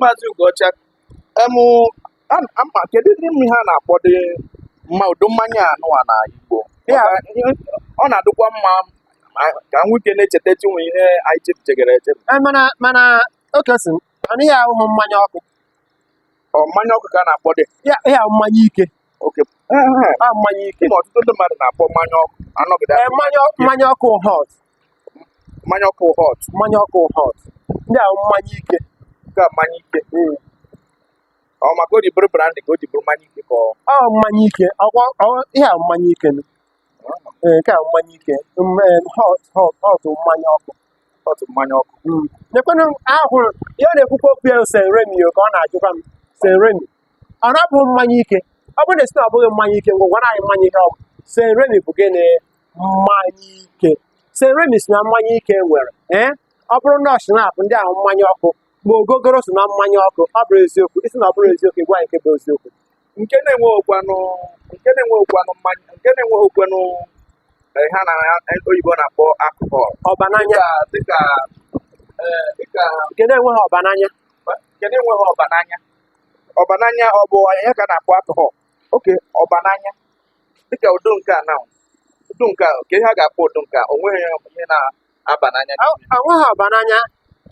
maazị Ugocha emụ ama kedudị ihe a na-akpọdị mma ụdị mmanya a nụwa na Igbo ọ na-adịkwa mma ka nwoke na-echeta chinwe ihe anyị chefutegara echefu eh, mana mana Okeyson ihe ahụ mmanya ọkụ ọ mmanya ọkụ ka a na-akpọdị ihe ahụ mmanya ike a mmanya ike ma ọtụtụ ndị mmadụ na-akpọ mmanya ọkụ anọgide eh, mmanya ọkụ hot mmanya ọkụ hot mmanya ọkụ hot ndị ahụ mmanya ike ka mmanya ike hmm. ọ maka o ji bụrụ brandy ka o ji bụrụ mmanya ike ka ọ mmanya ike ihe a mmanya ike eh, nke a mmanya ike eh, hot hot hot mmanya ọkụ hot mmanya ọkụ hmm. nekwenụ ahụrụ ihe ọ na-ekwukwa okwu ya St. Remy ka ọ na-ajụkwa m St. Remy ọ na-abụ mmanya ike ọ bụrụ na ị sị na ọ bụghị mmanya ike ngwa gwara anyị mmanya ihe ọ bụ St. Remy bụ gịnị mmanya ike St. Remy so na mmanya ike nwere ee ọ bụrụ na ọ schnapp ndị ahụ mmanya ọkụ ma ogogoro so na mmanya ọkụ ọ bụrọ eziokwu ị sị na ọ bụrọ eziokwu ị gwa anyị nke bụ eziokwu nke na-enweghịkwanụ nke na-enweghịkwanụ mmanya nke na-enweghịkwanụ eh, ihe a ndị oyibo na-akpọ alcohol ọba n'anya dịka dịka eh, dịka nke na-enweghị ọba n'anya nke na-enweghị ọba n'anya ọbananya ọ bụ ya ka a na-akpọ alcohol okay ọbananya dịka ụdị nke a na ụdị nke a kee ihe a ga-akpọ ụdị nke a o nweghị ihe na-aba n'anya o nweghị ọbananya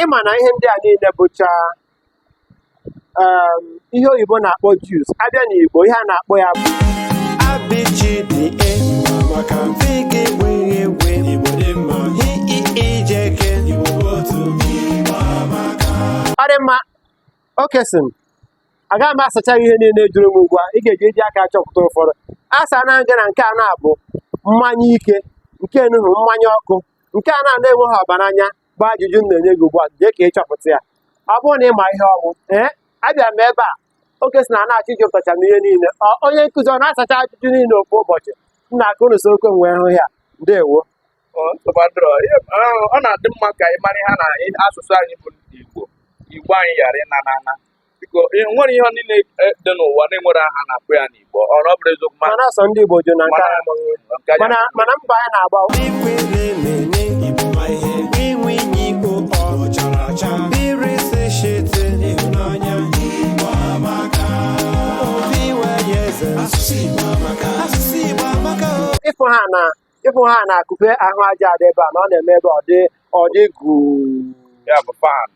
ị ma na ihe ndị a niile bụcha um, ihe oyibo na-akpọ juice a bịa n'Igbo ihe a na-akpọ ya bụ abịjide maka mfe gị wee wee ije ke ọ dị mma Okeyson agaghị m asacha ihe niile ị jụrụ m ugbu a ị ga-eji eji aka achọpụta ụfọdụ asaana m gị na nke a na-abụ mmanya ike nke enuhu mmanya ọkụ nke a na na-enweghị ọbananya bụ ajụjụ m na-enye gị ugbu a jee ka ị chọpụta ya ọ bụrụ na ị ma ihe ọ wụ ee abịa m ebe a Okeyson a na-achọ ịjụtacha m ihe niile onye nkụzi ọ na-asacha ajụjụ niile ofu ụbọchị m na-aka unu so okwe wee hụ ya ndewo ọ na-adị mma ka ị mara ihe na asụsụ anyị bụ Igbo Igbo anyị ghara ịna na ana biko nwere ihe niile e, dị n'ụwa na e nwere aha a na-akpọ ya n'Igbo ọ ọ bụrụ eziokwu mana asọ ndị Igbo jụ na mana mba anyị na-agba ịfụ ha na ịfụ ha na akụpe ahụ aja adị ebe a na ọ na-eme ebe ọ dị ọ dị gụụ ya bụ fan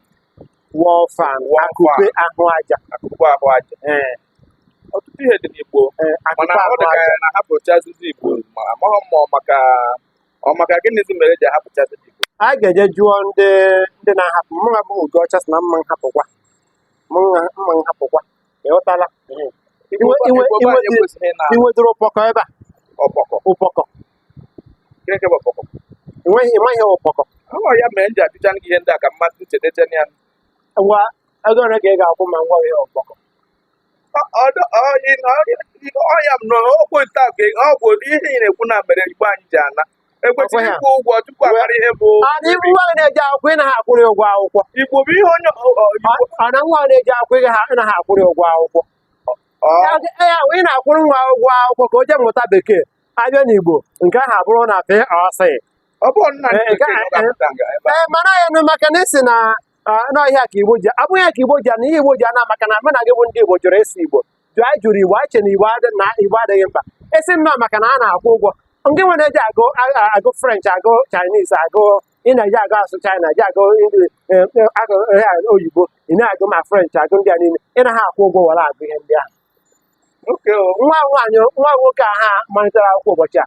wall fan Wall akụpe fan. ahụ aja akụkụ ahụ aja ee ọtụtụ ihe dị n'igbo ee mana akụpe ọ ahụ dị ka aja ya na-ahapụchazizi igbo ma amaghị m ma ọ maka ọ maka gịnịzi mere e ji ahapụchazi igbo a ga-eje jụọ ndị ndị na-ahapụ mụwa bụ Okọcha sị na mma nhapụkwa mma mma nhapụkwa ị ghọtala Iwe- iwe- Igbo be anyị iwe- ekwesịghị na inwedịrị ụpọkọ ebe a ọkpọkọ ụpọkọ Chineke bụ ọkpọkọ enweghị ị maghị ihe ụpọkọ ọ ya mere m ji ajụcha gị ihe ndị a ka mmadụ nchetecha ya ngwa ego ole ka ị ga-akwụ ma ngwa ihe ụpọkọ ọ ya m na ọgwụ nta ka ọgwụ ihe ị na-ekwu na mere igbo anyị ji ana ekwesịrị ịkwụ ụgwọ tupu a mara ihe bụ adị ibu nwa na-eje akwụkwọ ị naghị akwụrụ ụgwọ akwụkwọ igbo bụ ihe onye ọ na nwa na-eje akwụkwọ ị naghị akwụrụ ụgwọ akwụkwọ ya ị na-akwụrụ nwa ụgwọ akwụkwọ ka o jee mụta bekee a bịa n'igbo nke ahụ abụrụ na FOC ee mana ya nụ maka na ị sị na na ọ ya ka igbo ji abụghị ya ka igbo ji ana ihe igbo ji ana maka na mụ na gị bụ ndị igbo jụrụ ịsụ igbo jụ anyị jụrụ igbo anyị che na igbo adị- na igbo adịghị mkpa a sị nnọọ maka na a na-akwụ ụgwọ ndị nwere eje agụ a- a- agụ french agụ chinese agụ ị na-eje agụ asụ china je agụ Indi- eh, eh, agụ eh, ah, oyibo ị na-agụ ma french agụ ndị a niile ị naghị akwụ ụgwọ were agụ ihe ndị ahụ nwa nwaanyị nwa nwoke ahụ malitere akwụkwọ ụbọchị a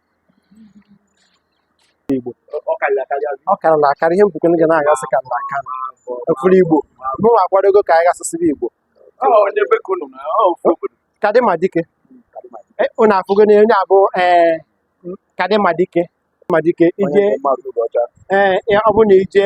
Igbo ọ karịrị akarị azụ ọ karịrị akarị ihe mbukwe ga na-agasị karịrị akarị efuru Igbo mụ akwadogo ka anyị gasịsịrị Igbo ọ onye be ka unu na ọ ofu obodo kadịma dike Eh, unu afụgo na onye a bụ ee kadịma dike Madike ije ee ya- ọ bụ na ije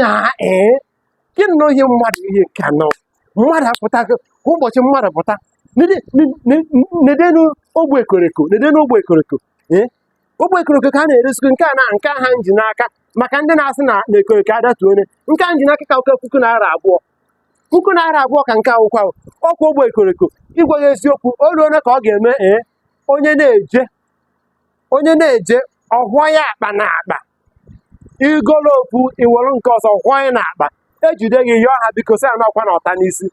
na ee gị nọ ihe mmadụ ihe nke anọ mmadụ apụtakwa ụbọchị mmadụ pụta nedenu ogbe ekoreko nedenu ogbe ekoreko ee ogbe ekoreko ka a na-eresikwu nke a na nke a m ji n'aka maka ndị na-asị na na ekoreko adatuo ọnụ nke a m ji n'aka ka wụkwa puku naira abụọ puku naira abụọ ka nke a kwụkwa ahụ ọkwa ogbe ekoreko ị gwa ya eziokwu o ruole ka ọ ga-eme ee onye na-eje onye na-eje ọ họọ ya akpa na akpa igolo ofu iwere nke ọzọ kwanye n'akpa ejide gị yọọ ha biko sị ya nakwa na ọta n'isi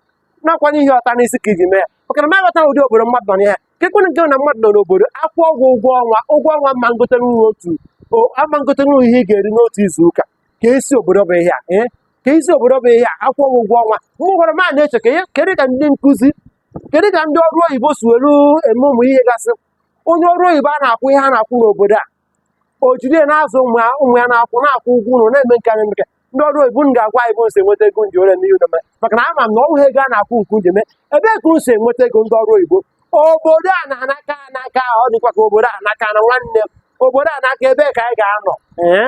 nakwanye ihe ọta n'isi ka iji mee ya maka na maghọta ụdị obodo mmadụ nọ na ya ka ekwere nke na mmadụ nọ n'obodo akwụọ gị ụgwọ ọnwa ụgwọ ọnwa ama ngote nri otu o- ama ngotenwu ihe ị ga-eri n'otu izu ụka ka esi obodo bụ ihe a ee ka isi obodo bụ ihe a akwụọ gị ụgwọ ọnwa mgbe ụfọdụ m a na-eche ka ihe kedu ka ndị nkụzi kedu ka ndị ọrụ oyibo si were eme ụmụ ihe gasị onye ọrụ oyibo a na-akwụ ihe a na-akwụ n'obodo a o jide na-azụ ụmụ ya ụmụ ya na-akwụ na-akwụ ụgwọ ụlọ na-eme nke anyị nke ndị ọrụ oyibo unu ga-agwa anyị ebe unu si enweta ego unu ji eme ihe unu na-eme maka na ama m na ọ bụghị ego a na-akwụ unu ka unu ji eme ebee ka unu si enweta ego ndị ọrụ oyibo obodo a na-anaka anaka ọ dịkwa ka obodo a naka na nwanne m obodo a naka ebee ka anyị ga-anọ ee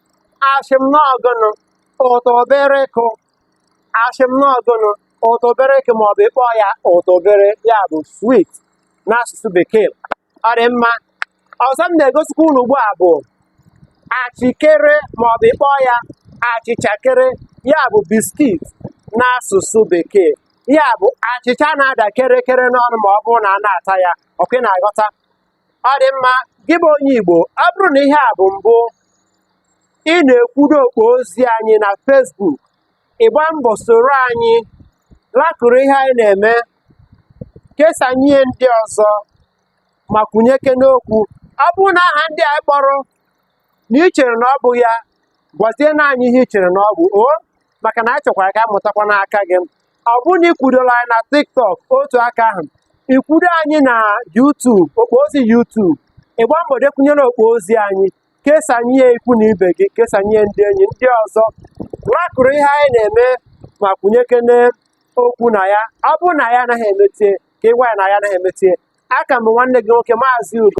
ashị m n'ọ gụnụ ụtọbirekụ ashị m n'ọ gụnụ ụtọbirekụ ma ọ bụ ịkpọ ya ụtọbire ya bụ swit n'asụsụ bekee ọ dị mma ọzọ m na-egosikwa unu ugbu a bụ achịkere ma ọ bụ ịkpọ ya achịchakere ya bụ biskit n'asụsụ bekee ya bụ achịcha na-ada kerekere n'ọnụ ma ọ bụrụ na a na-ata ya ọkwa ị na-aghọta ọ dị mma gị bụ onye Igbo ọ bụrụ na ihe a bụ mbụ ị na-ekwudo okpo ozi anyị na Facebook ịgba mbọ soro anyị lakụrụ ihe anyị na-eme kesanye ndị ọzọ ma kwunyekene okwu ọ bụrụ na aha ndị a kpọrọ na ị chere na ọ bụ ya gwazie na anyị ihe ị chere na ọ bụ o maka na anyị chọkwara ka anyị mụtakwa n'aka gị ọ bụrụ na ikwudola anyị na tiktok otu aka ahụ ikwudo anyị na yutub okpo ozi yutub ịgba mbọ dekwunyere okpo ozi anyị kesanye ya ikwu na ibe gị kesanye ya ndị enyi ndị ọzọ lakụrụ ihe anyị na-eme ma kwunyekene okwu na ya ọ bụrụ na anyị anaghị emetie ka ịgwa anyị na anyị anaghị emetie aka m bụ nwanne gị nwoke maazị ugo